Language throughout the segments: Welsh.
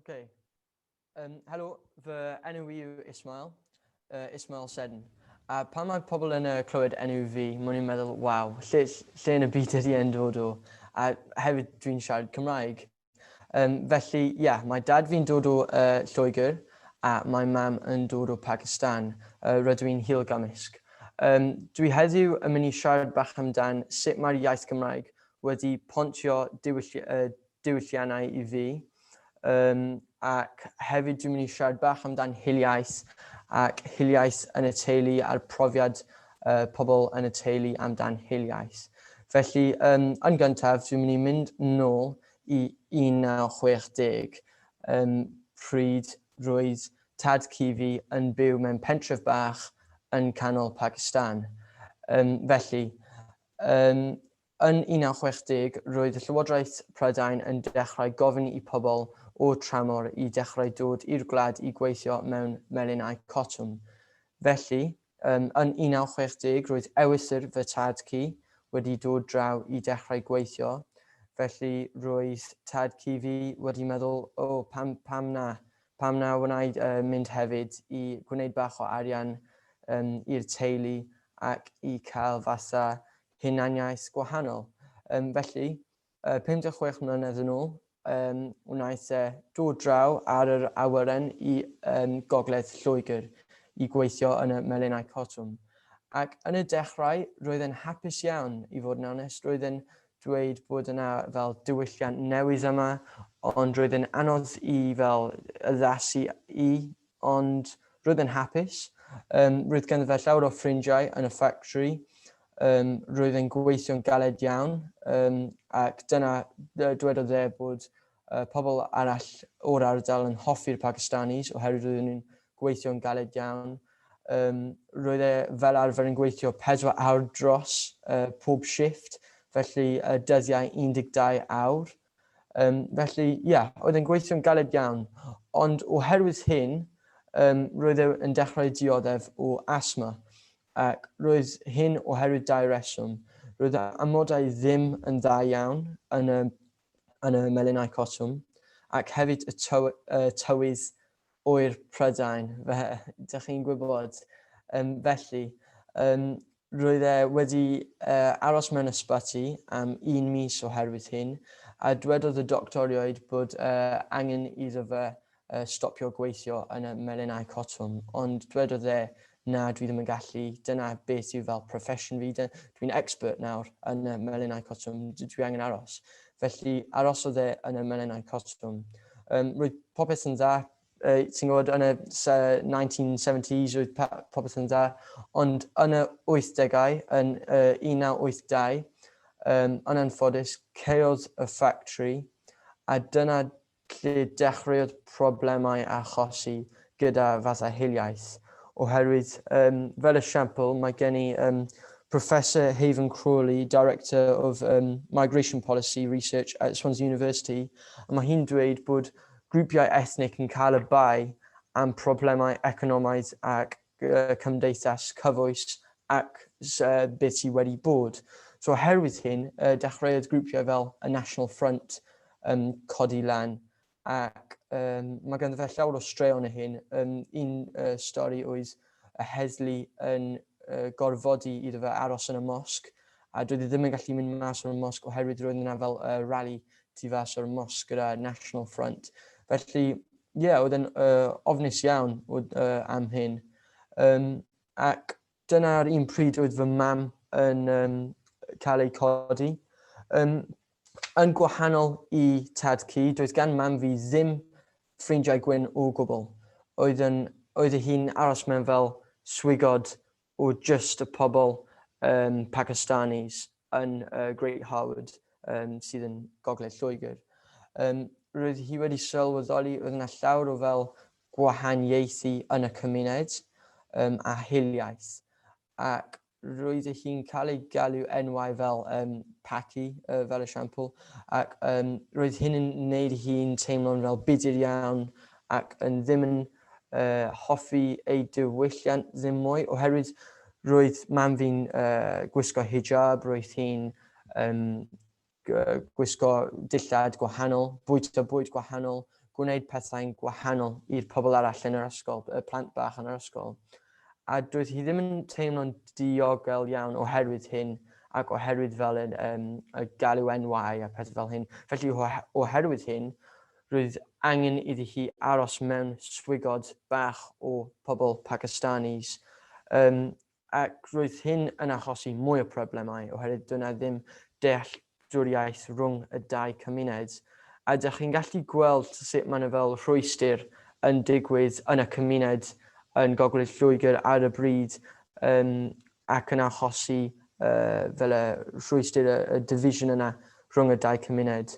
Okay. Um, helo, fy enw i yw Ismail, uh, Ismail Sedn. A pan mae pobl yn uh, clywed enw fi, mwyn i'n meddwl, waw, lle, lle yn y byd ydy e'n dod o? A hefyd dwi'n siarad Cymraeg. Um, felly, ie, yeah, mae dad fi'n dod o uh, Lloegr a mae mam yn dod o Pakistan. Uh, rydw i'n hil gymysg. Um, dwi heddiw yn mynd i siarad bach amdan sut mae'r iaith Gymraeg wedi pontio diwylliannau i fi, yym ac hefyd dwi'n mynd i siarad bach amdan hiliaeth ac hiliaeth yn y teulu a'r profiad yy pobl yn y teulu amdan hiliaeth. Felly yym yn gyntaf dwi'n mynd i mynd nôl i 1960 yym pryd roedd tad cu fi yn byw mewn pentref bach yn canol Pacistan. Yym felly Yn 1960, roedd Llywodraeth Prydain yn dechrau gofyn i pobl o tramor i dechrau dod i'r gwlad i gweithio mewn melinau cotwm. Felly, yn 1960, roedd ewythr fy tad cu wedi dod draw i dechrau gweithio, felly roedd tad cu fi wedi meddwl, 'O, pam, pam na? Pam na wnaed y mynd hefyd i gwneud bach o arian yym i'r teulu ac i cael fasa hunaniaeth gwahanol. Yym felly, yy pum deg chwech mlynedd yn ôl, yym wnaeth e dod draw ar yr awyren i yym gogledd Lloegr i gweithio yn y melinau cotwm. Ac yn y dechrau roedd e'n hapus iawn, i fod yn onest, roedd e'n dweud bod yna fel diwylliant newydd yma ond roedd e'n anodd i fel addasu i ond roedd e'n hapus. Yym roedd ganddo fe llawer o ffrindiau yn y ffactri, yym roedd e'n gweithio'n galed iawn yym ac dyna yy dwedodd e bod Y pobl arall o'r ardal yn hoffi'r Pakistanis oherwydd roedden nhw'n gweithio'n galed iawn. Um, roedd e fel arfer yn gweithio 4 awr dros uh, pob shift, felly uh, dyddiau 12 awr. Um, felly, ia, yeah, oedd e'n gweithio'n galed iawn. Ond oherwydd hyn, um, roedd e yn dechrau dioddef o asma. Ac roedd hyn oherwydd dau reswm. Roedd amodau ddim yn dda iawn yn y yn y melinau cotwm, ac hefyd y tyw, uh, tywydd oer Prydain, fe, dych chi'n gwybod. Um, felly, um, roedd e wedi uh, aros mewn ysbyty am un mis oherwydd hyn, a dwedodd y doctoriaid bod uh, angen iddo fe a stopio gweithio yn y melinau cotwm, ond dwedodd e, na, dwi ddim yn gallu, dyna beth sydd fel profession fi, dwi'n expert nawr yn y melinau cotwm, dwi angen aros. Felly arosodd e yn y melinau cotwm. Um, roedd popeth yn dda, uh, ti'n gwybod, yn y 1970s roedd popeth yn dda, ond yn y 80au, yn uh, 1982, um, yn anffodus, ceodd y ffactri, a dyna Lle dechreuodd problemau achosi gyda fatha hiliaeth, oherwydd yym fel esiampl mae gen i yym Professor Haven Crawley, Director of um, Migration Policy Research at Swansea University, a mae hi'n dweud bod grwpiau ethnic yn cael y bai am problemau economaidd ac cymdeithas cyfoes ac bydd ti wedi bod. So oherwydd hyn, uh, dechreuodd grwpiau fel y National Front um, codi lan ac um, mae ganddo fe llawer o straeon y hyn. Um, un uh, stori oedd y heddlu yn uh, gorfodi iddo fe aros yn y mosg a doedd e ddim yn gallu mynd mas o'r mosg oherwydd roedd yna fel uh, rally tu fas o'r mosg gyda National Front. Felly, ie, yeah, oedd yn uh, ofnus iawn oedd, uh, am hyn. Um, ac dyna'r un pryd oedd fy mam yn um, cael ei codi. Um, yn gwahanol i tad cu, doedd gan mam fi ddim ffrindiau gwyn o gwbl. Oedd, yn, oedd y hi'n aros mewn fel swigod o just y pobl um, Pakistanis. yn y Great Harwood um, sydd yn gogledd Lloegr. Um, roedd hi wedi sylweddoli roedd yna llawer o fel gwahaniaethu yn y cymuned um, a hiliaeth ac roedd hi'n cael ei galw enwau fel um, Paki, uh, fel esiampl, ac um, roedd hyn yn gwneud hi'n teimlo'n fel budur iawn ac yn ddim yn hoffi ei diwylliant ddim mwy oherwydd roedd mam fi'n gwisgo hijab, roedd hi'n gwisgo dillad gwahanol, bwyta bwyd gwahanol, gwneud pethau'n gwahanol i'r pobl arall yn yr ysgol, y plant bach yn yr ysgol. A doedd hi ddim yn teimlo'n diogel iawn oherwydd hyn ac oherwydd fel y galw NY a pethau fel hyn. Felly oherwydd hyn, Roedd angen iddi hi aros mewn swigod bach o pobl Pakistanis, yym, ac roedd hyn yn achosi mwy o problemau oherwydd doedd yna ddim dealltwriaeth rhwng y dau cymuned. A dych chi'n gallu gweld sut mae yna fel rhwystr yn digwydd yn y cymuned yn Gogledd Lloegr ar y bryd, yym, ac yn achosi yy fel y rhwystr, y y division yna rhwng y dau cymuned.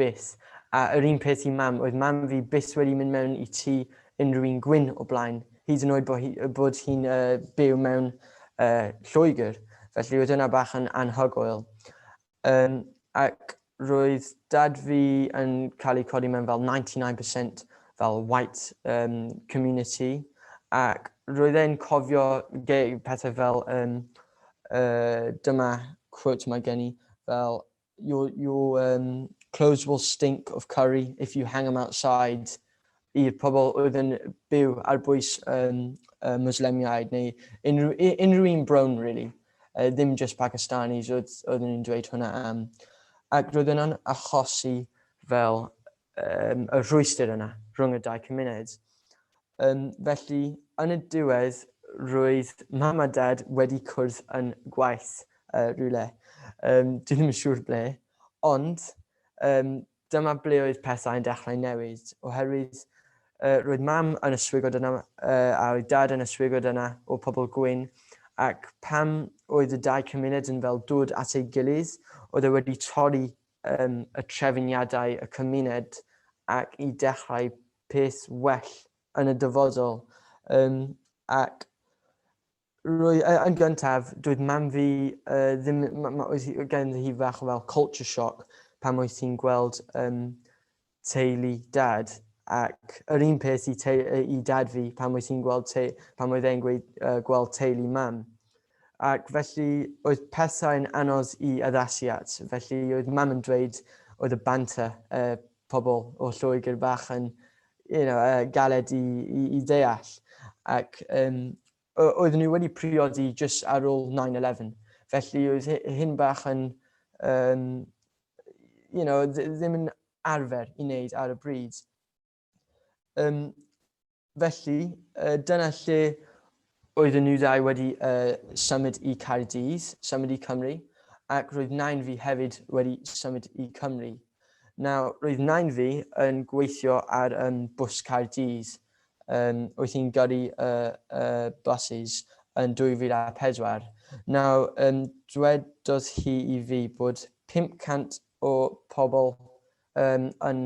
Byth. A yr un peth i Mam. Oedd Mam fi byth wedi mynd mewn i tŷ unrhyw un gwyn o blaen, hyd yn oed bo' hi yy bod hi'n yy byw mewn yy Lloegr, felly oedd hwnna bach yn anhygoel. Yym ac roedd Dad fi yn cael eu codi mewn fel ninety nine percent fel white yym community ac roedd e'n cofio ge- pethau fel yym yy dyma quote ma' gen i fel your your um, clothes will stink of curry if you hang them outside i'r pobl oedd yn byw ar bwys um, uh, Muslemiaid neu unrhyw, unrhyw un brown, really. Uh, ddim just Pakistanis oedd, oedd yn dweud hwnna am. Ac roedd yna'n achosi fel um, y rhwystyr yna rhwng y dau cymuned. Yym, felly, yn y diwedd, roedd mam a dad wedi cwrdd yn gwaith uh, rhywle. Um, dwi ddim yn siŵr ble, ond um, dyma ble oedd pethau yn dechrau newid, oherwydd uh, roedd mam yn y swigod yna uh, a oedd dad yn y swigod yna o pobl gwyn, ac pam oedd y dau cymuned yn fel dod at ei gilydd, oedd e wedi torri um, y trefniadau y cymuned ac i dechrau peth well yn y dyfodol yym ac rwy- yy yn gyntaf doedd mam fi yy ddim ma' ma' oedd hi yy ganddi hi fach o fel culture shock pan oedd hi'n gweld yym teulu dad ac yr un peth i teu- yy i dad fi pan oedd hi'n gweld teu- pan oedd e'n gweud yy gweld teulu mam ac felly oedd pethau'n anodd i addasu at felly oedd mam yn dweud oedd y banter yy pobl o Lloegr bach yn you know, uh, galed i, i, i deall. Ac um, oeddwn ni wedi priodi jyst ar ôl 9-11. Felly oedd hyn bach yn, um, you know, ddim yn arfer i wneud ar y bryd. Um, Felly, dyna lle oedden nhw ddau wedi symud i Caerdydd, symud i Cymru, ac roedd nain fi hefyd wedi symud i Cymru. Nawr, roedd nain fi yn gweithio ar um, bws Caerdydd, um, oedd hi'n gyrru uh, uh, buses yn 2004. Nawr, um, dwedodd hi i fi bod 500 o pobl Yn yn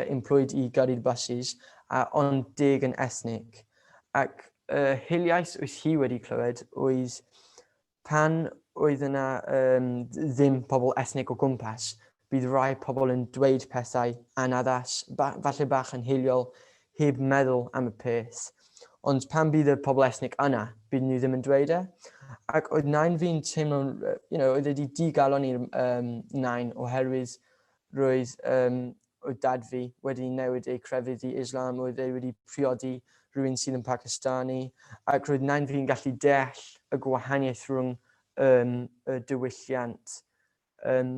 employed i gyrru'r buses a ond deg yn ethnic. Ac y hiliaeth wyth hi wedi clywed oedd pan oedd yna um, ddim pobl ethnic o gwmpas, bydd rhai pobl yn dweud pethau anaddas, ba, falle bach yn hiliol, heb meddwl am y peth. Ond pan bydd y pobl ethnic yna, bydd nhw ddim yn dweud e. Ac oedd nain fi'n teimlo'n, you know, oedd wedi digalon i'r um, nain oherwydd Roedd yym oedd dad fi wedi newid ei crefydd i Islam, oedd e wedi priodi rhywun sydd yn Pakistani, ac roedd nain fi'n gallu deall y gwahaniaeth rhwng yym y diwylliant. Yym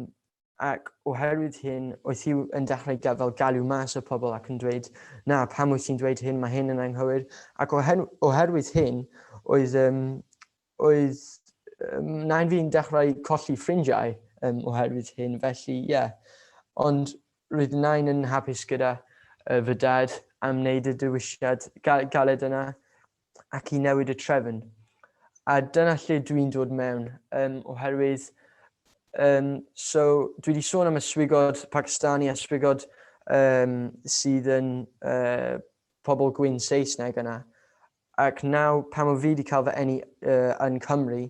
ac oherwydd hyn oedd hi yn dechrau ga- fel galw mas y pobl ac yn dweud na pam wyt ti'n dweud hyn, mae hyn yn anghywir ac oher- oherwydd hyn oedd yym Oedd nain fi'n dechrau colli ffrindiau yym oherwydd hyn felly ie. Ond roedd nain yn hapus gyda yy fy dad am wneud y dewisiad ga- galed yna ac i newid y trefn. A dyna lle dwi'n dod mewn yym oherwydd yym so dwi 'di sôn am y swigod Pacistani a swigod yym sydd yn yy pobl gwyn Saesneg yna Ac nawr pam o fi di cael fy eni yn Cymru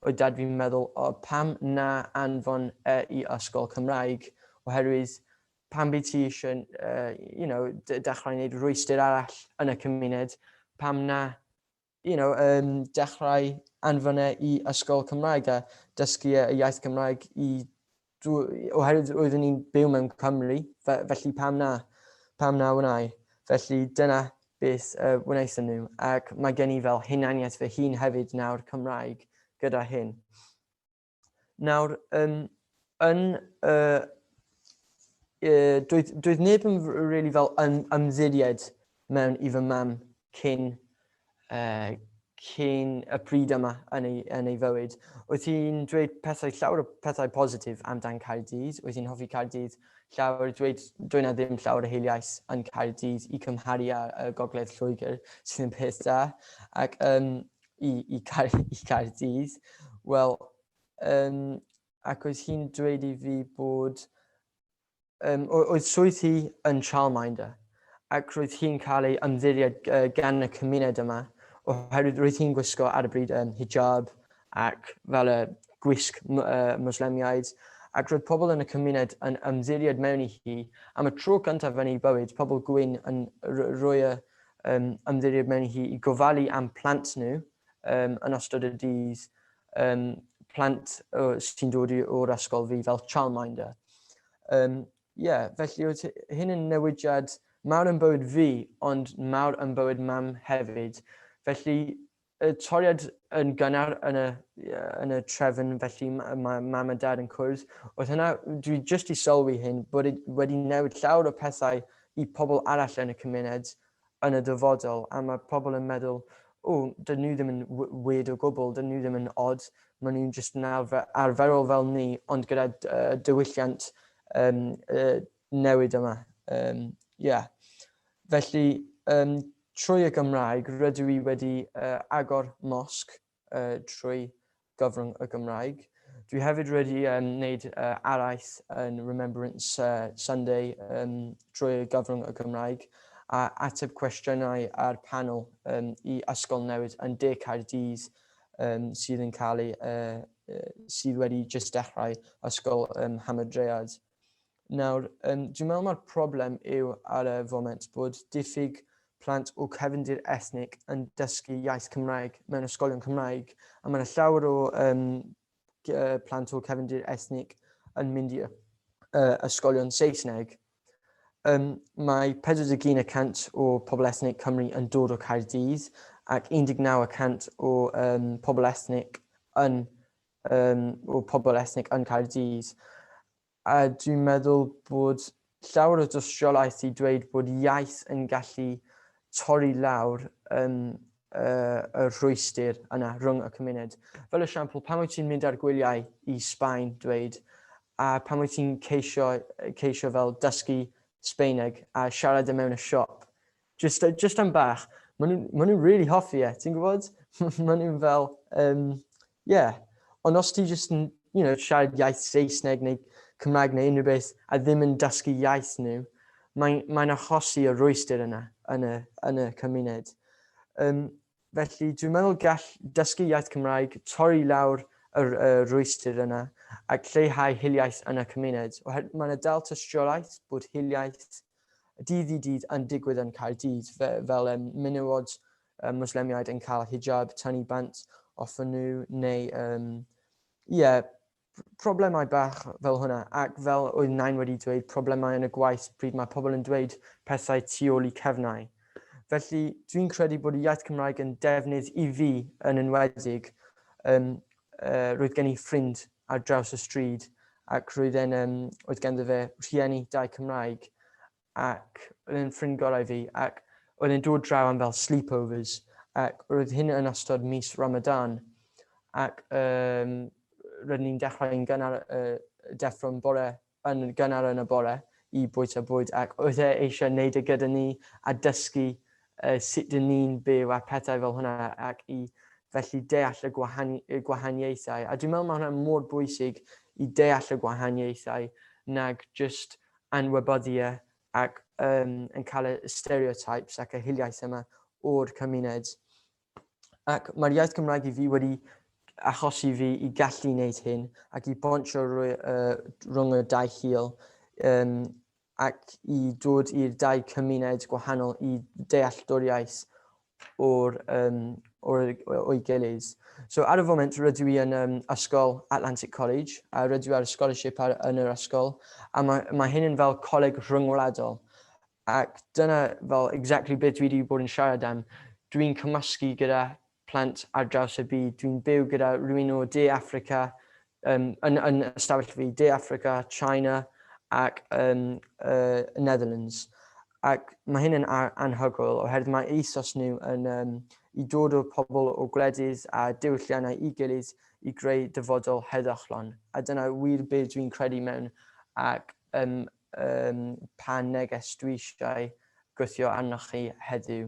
oedd dad fi'n meddwl o pam na anfon e i ysgol Cymraeg oherwydd pam by ti eisiau you know dechrau neud rwystyr arall yn y cymuned pam na you know yym dechrau anfon e i ysgol Cymraeg a dysgu e y iaith Gymraeg i oherwydd roeddwn i'n byw mewn Cymru, fe, felly pam na? Pam na wnau? Felly dyna beth uh, wnaethon nhw, ac mae gen i fel hunaniaeth fy hun hefyd nawr Cymraeg gyda hyn. Nawr, um, yn uh, uh, doedd, doedd neb yn really fel ym, ymddiried mewn i fy mam cyn uh, cyn y pryd yma yn ei, yn ei fywyd. Wyt ti'n dweud pethau llawer o pethau positif amdan Caerdydd? Wyt ti'n hoffi Caerdydd llawer? Dweud, dweud na ddim llawer o heiliais yn Caerdydd i cymharu â uh, Gogledd Lloegr, sydd yn peth da. Ac um, i, i, Caer, i Caerdydd, wel, um, ac oedd hi'n dweud i fi bod Yym, oedd swydd hi yn childminder ac roedd hi'n cael ei ymddiried gan y cymuned yma oherwydd roedd hi'n gwisgo ar y bryd um, hijab ac fel y gwisg uh, Muslemiaid ac roedd pobl yn y cymuned yn ymddiried mewn i hi am y tro cyntaf yn ei bywyd, pobl gwyn yn rhoi y um, ymddiried mewn i hi i gofalu am plant nhw um, yn ystod y dydd Yym, plant o, sy'n dod o'r ysgol fi fel childminder. Um, Ie, felly oedd hyn yn newidiad mawr yn bywyd fi, ond mawr yn bywyd mam hefyd. Felly, y toriad yn gynnar yn y, yn y trefn, felly mae mam a dad yn cwrdd. Oedd hynna, dwi jyst i sylwi hyn, bod e wedi newid llawer o pethau i pobl arall yn y cymuned, yn y dyfodol a mae pobl yn meddwl o dydyn nhw ddim yn weird o gwbl, dydyn nhw ddim yn odd, maen nhw'n jyst yn arferol fel ni ond gyda diwylliant um, uh, newid yma. Um, yeah. Felly, um, trwy y Gymraeg, rydw i wedi uh, agor mosg uh, trwy gyfrwng y Gymraeg. Dwi hefyd wedi um, wneud uh, araith yn Remembrance uh, Sunday um, trwy gyfrwng y Gymraeg a ateb cwestiynau ar panel um, i ysgol newid yn De Caerdydd um, sydd yn cael ei, uh, sydd wedi just dechrau ysgol um, Hamadread. Nawr, yym, dwi'n meddwl mai'r problem yw ar y foment bod diffyg plant o cefndir ethnig yn dysgu iaith Cymraeg mewn ysgolion Cymraeg, a mae yna llawer o um, plant o cefndir ethnig yn mynd i uh, ysgolion Saesneg. Um, mae 41% o pobl ethnig Cymru yn dod o Caerdydd ac 19% o um, pobl ethnig yn um, o pobl esnig yn Caerdydd. A dwi'n meddwl bod llawer o dystiolaeth i dweud bod iaith yn gallu torri lawr um, uh, y rhwystyr yna rhwng y cymuned. Fel esiampl, pan wyt ti'n mynd ar gwyliau i Sbaen, dweud, a pan wyt ti'n ceisio, ceisio fel dysgu Sbeineg a siarad y e mewn y siop, Just, uh, just am bach. Maen nhw'n ma nhw really hoffi e, ti'n gwybod? Maen nhw'n fel, um, yeah. Ond os ti just yn, you know, siarad iaith Saesneg neu Cymraeg neu unrhyw beth a ddim yn dysgu iaith nhw, mae'n mae achosi y rwystyr yna yn y, yn y cymuned. Um, Felly dwi'n meddwl gall dysgu iaith Cymraeg torri i lawr yr y rwystyr yna ac lleihau hiliaeth yn y cymuned oherwydd mae yna dal tystiolaeth bod hiliaeth dydd i dydd yn digwydd yn Caerdydd fe, fel um, menywod um, Muslemiaid yn cael hijab tan i bant off nhw neu um, ie, yeah, problemau bach fel hwnna, ac fel oedd Nain wedi dweud, problemau yn y gwaith pryd mae pobl yn dweud pethau tu ôl i cefnau. Felly, dwi'n credu bod y iaith Cymraeg yn defnydd i fi yn enwedig. Um, uh, roedd gen i ffrind ar draws y stryd ac roedd e'n, um, oedd ganddo fe rhieni dau Cymraeg ac oedd e'n ffrind gorau fi ac oedd e'n dod draw am fel sleepovers ac roedd hyn yn ystod mis Ramadan ac um, rydyn ni'n dechrau yn gynnar uh, deffro'n bore yn gynnar yn y bore i bwyta bwyd ac oedd e eisiau gwneud e gyda ni a dysgu uh, sut dyn ni'n byw a pethau fel hwnna ac i felly deall y, gwahani y gwahaniaethau. A dwi'n meddwl mae hwnna mor bwysig i deall y gwahaniaethau nag just anwybyddiaeth ac yn cael y stereotypes ac y hiliaeth yma o'r cymuned. Ac mae'r iaith Gymraeg i fi wedi achosi fi i gallu wneud hyn ac i bontio rhwng y dau hil um, ac i dod i'r dau cymuned gwahanol i dealltwriaeth o'r, um, o'r, o'i gilydd. So ar y foment rydw i yn um, ysgol Atlantic College a rydw i ar y scholarship ar, yn yr ysgol a mae, mae hyn yn fel coleg rhyngwladol ac dyna fel exactly beth dwi wedi bod yn siarad am. Dwi'n cymysgu gyda plant ar draws y byd. Dwi'n byw gyda rhywun o De Africa, Yn, yn, yn ystafell fi, De Affrica, China ac yn uh, Netherlands. Ac mae hyn yn anhygoel oherwydd mae ethos nhw yn um, i dod o pobl o gwledydd a diwylliannau i gilydd i greu dyfodol heddychlon. A dyna wir be dwi'n credu mewn ac um, um, pa neges dwi eisiau gweithio arnoch chi heddiw.